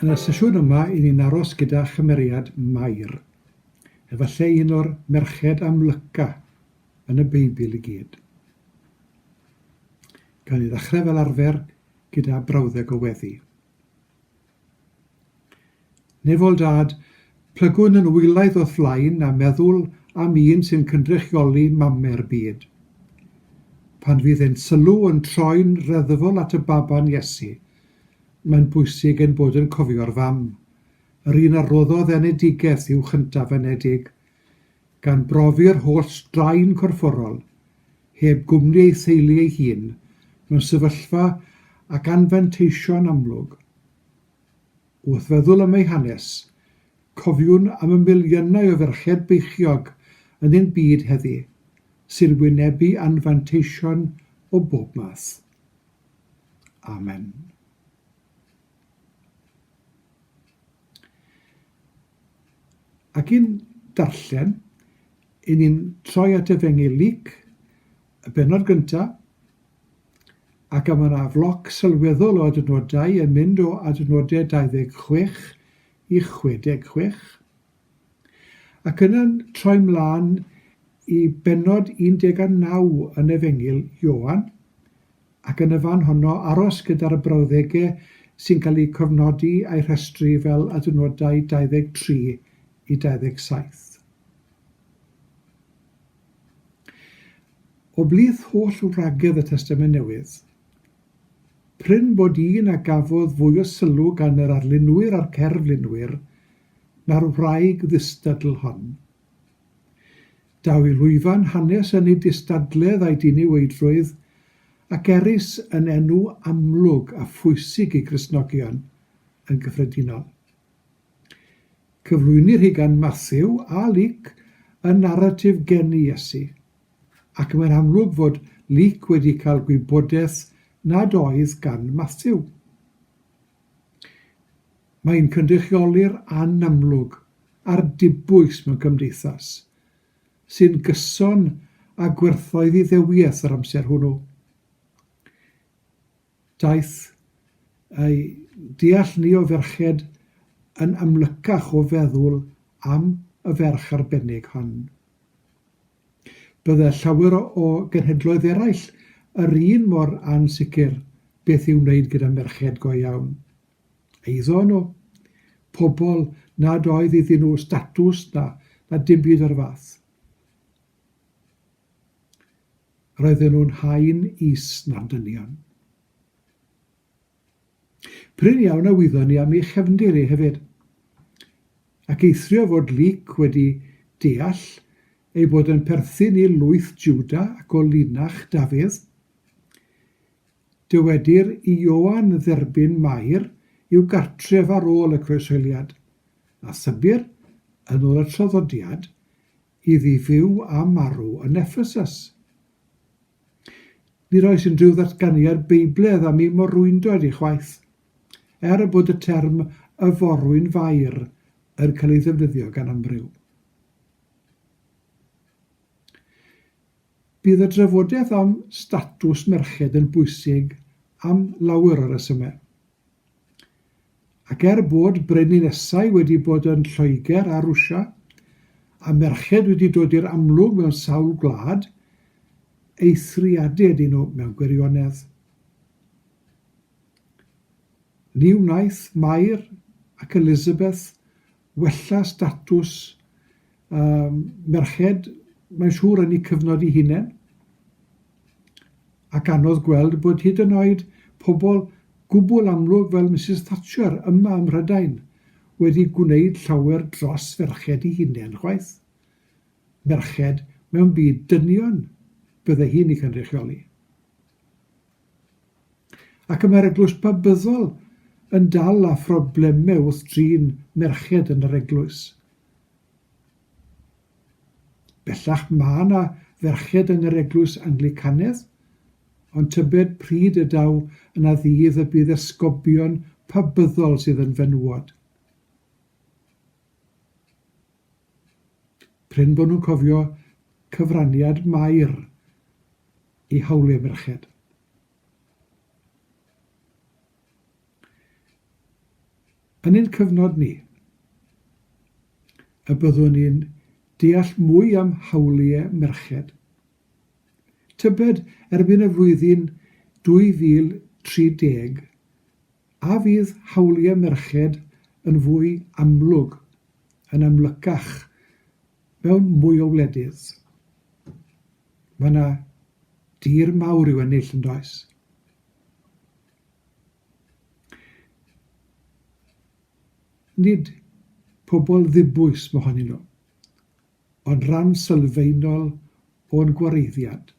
Yn y sesiwn yma, i ni'n aros gyda chymeriad Mair. Efallai un o'r merched amlyca yn y Beibl i gyd. Gawn ni ddechrau fel arfer gyda brawddeg o weddi. Nefol Dad, plygwn yn wylaidd o'th flaen a meddwl am un sy'n cynrychioli Mame'r byd. Pan fydd ein sylw yn troi'n reddfol at y Baban Iesu, mae'n bwysig ein bod yn cofio'r Fam, yr un a roddodd enedigeth i'w chyntaf enedig, gan brofi'r holl straen corfforol heb gwmni ei theulu ei hun, mewn sefyllfa ac anfanteisio'n amlwg. Wrth feddwl am ei hanes, cofiwn am y miliynau o ferched beichiog yn ein byd heddi, sy'n wynebu anfanteision o bob math. Amen. Ac yn darllen, Yn ni'n troi at Efengyl Luc, y bennod gynta', ac a ma' 'na floc sylweddol o adnodau yn mynd o adnode 26 i 66. Ac yna'n troi 'mlan i bennod 19 yn Efengyl Ioan, ac yn y fan honno aros gyda'r brawddege' sy'n cael eu cofnodi a'u rhestru fel adnodau 23 i 27. O blith holl wragedd y Testament Newydd, prin bod un a gafodd fwy o sylw gan yr arlunwyr a'r cerflunwyr na'r wraig ddistadl hon. Daw i lwyfan hanes yn ei dystadledd a'i diniweidrwydd, ac erys yn enw amlwg a phwysig i Gristnogion yn gyffredinol. Cyflwynir hi gan Mathew a Luc yn naratif geni Iesu, ac mae'n amlwg fod Luc wedi cael gwybodaeth nad oedd gan Mathew. Mae'n cynrychioli'r anamlwg a'r dibwys mewn cymdeithas, sy'n gyson â gwerthoedd Iddewiaeth yr amser hwnnw. Daeth ei deall ni o ferched yn amlycach o feddwl am y ferch arbennig hon. Bydde llawer o genhedloedd eraill yr un mor ansicr beth i'w wneud gyda merched go iawn. Eiddo nhw. Pobl nad oedd iddyn nhw statws na, na dim byd o'r fath. Roedden nhw'n haen is na'n dynion. Prin iawn a wyddon ni am ei chefndir e hefyd, ac eithrio fod Luc wedi deall ei bod yn perthyn i lwyth Jwda ac o linach Dafydd. Dywedir i Ioan dderbyn Mair i'w gartref ar ôl y Croeshoeliad, a thybir, yn ôl y traddodiad, iddi fyw a marw yn Effesus. Nid oes unrhyw ddatganiad Beibledd am ei morwyntoad ei chwaith, er bod y term y forwyn fair yn cael ei ddefnyddio gan amryw. Bydd y drafodaeth am statws merched yn bwysig am lawer o resymau. Ac er bod brenhinesau wedi bod yn Lloegr a Rwsia, a merched wedi dod i'r amlwg mewn sawl gwlad, eithriadau ydyn nhw mewn gwirionedd. Ni wnaeth Mair ac Elizabeth wella statws um, merched, mae'n siŵr yn eu cyfnod i hunain, ac anodd gweld bod hyd yn oed pobl gwbl amlwg fel Mrs Thatcher yma ym Mhrydain wedi gwneud llawer dros ferched i hunain chwaith. Merched mewn byd dynion bydde hi'n ei cynrychioli. Ac y mae'r eglwys babyddol yn dal â phroblemau wrth drin merched yn yr eglwys. Bellach mae yna ferched yn yr eglwys Anglicanedd, ond tybed pryd y daw yna ddydd y bydd esgobion pabyddol sydd yn fenywod? Prin bod nhw'n cofio cyfraniad Mair i hawliau merched. Yn ein cyfnod ni, y byddwn ni'n deall mwy am hawliau merched. Tybed erbyn y flwyddyn 2030 A fydd hawliau merched yn fwy amlwg, yn amlycach, mewn mwy o wledydd? Mae yna dir mawr i'w ennill, yn does? Nid pobl ddibwys mohonyn nhw. Ond rhan sylfaenol o'n gwareiddiad.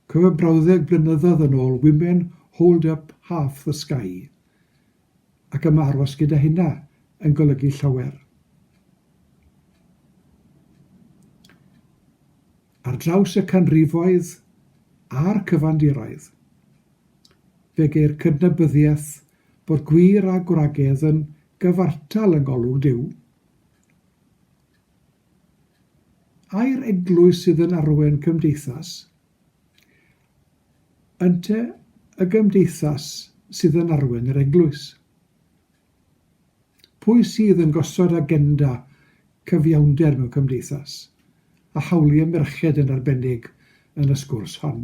Cofio brawddeg blynyddoedd yn ôl Women Hold Up Half the Sky ac am aros gyda hynna yn golygu llawer. Ar draws y canrifoedd a'r cyfandiroedd, fe geir cydnabyddiaeth bod gwir a gwragedd yn Gyfartal y Golwg Duw. Ai'r eglwys sydd yn arwen cymdeithas? Ynte y gymdeithas sydd yn arwen yr eglwys? Pwy sydd yn gosod agenda cyfiawnder mewn cymdeithas, a hawliau merched yn arbennig yn y sgwrs hon?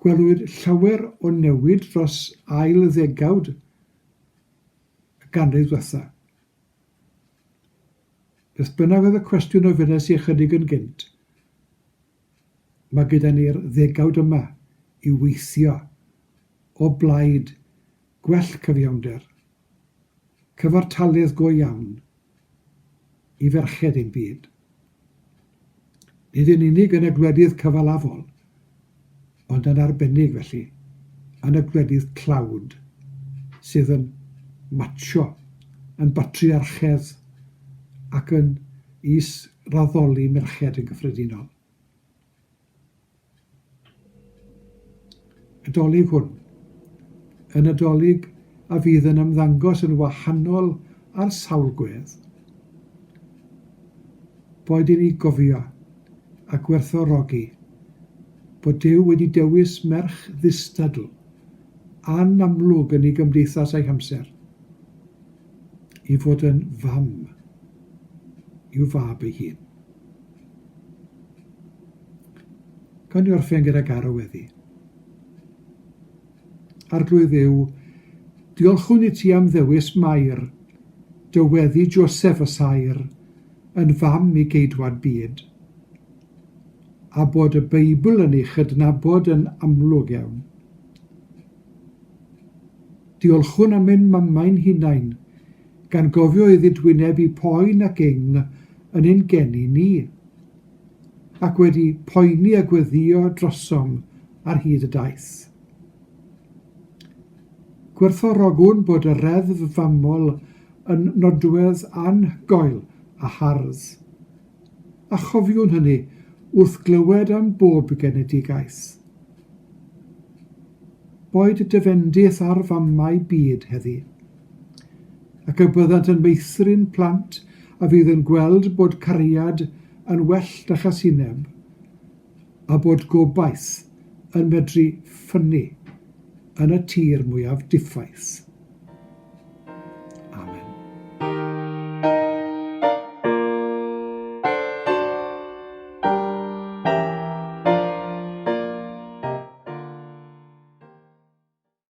Gwelwyd llawer o newid dros ail ddegawd y ganrif ddiwetha'. Beth bynnag oedd y cwestiwn ofynes i ychydig yn gynt, mae gyda ni'r ddegawd yma i weithio o blaid gwell cyfiawnder. Cyfartaledd go iawn i ferched ein byd. Nid yn unig yn y gwledydd cyfalafol, ond yn arbennig felly yn y gwledydd tlawd sydd yn matsio, yn batriarchedd ac yn is-raddoli merched yn gyffredinol. y Dolig hwn, yn y Dolig a fydd yn ymddangos yn wahanol ar sawl gwedd, boed i ni gofio a gwerthfawrogi bod Duw wedi dewis merch ddistadl, anamlwg yn ei gymdeithas a'i hamser. i fod yn fam i'w fab ei hun. Gawn ni orffen gyda garo weddi. Arglwydd Dduw, diolchwn i ti am ddewis Mair, dy weddi Joseph y Saer, yn fam i geidwad byd, a bod y Beibl yn ei chydnabod yn amlwg iawn. Diolchwn am ein mamau'n hunain, gan gofio iddi dwyneb i poen ac ing yn ein geni ni, ac wedi poeni a gweddïo drosom ar hyd y daith. Gwerthfawrogwn bod y reddf famol yn nodwedd anhygoel a hardd. a chofiwn hynny wrth glywed am bob genedigaeth. Boed dy fendith ar famau byd heddi. Ac y byddant yn meithrin plant a fydd yn gweld bod cariad yn well na chasineb, a bod gobaith yn medru ffynnu yn y tir mwyaf diffaith.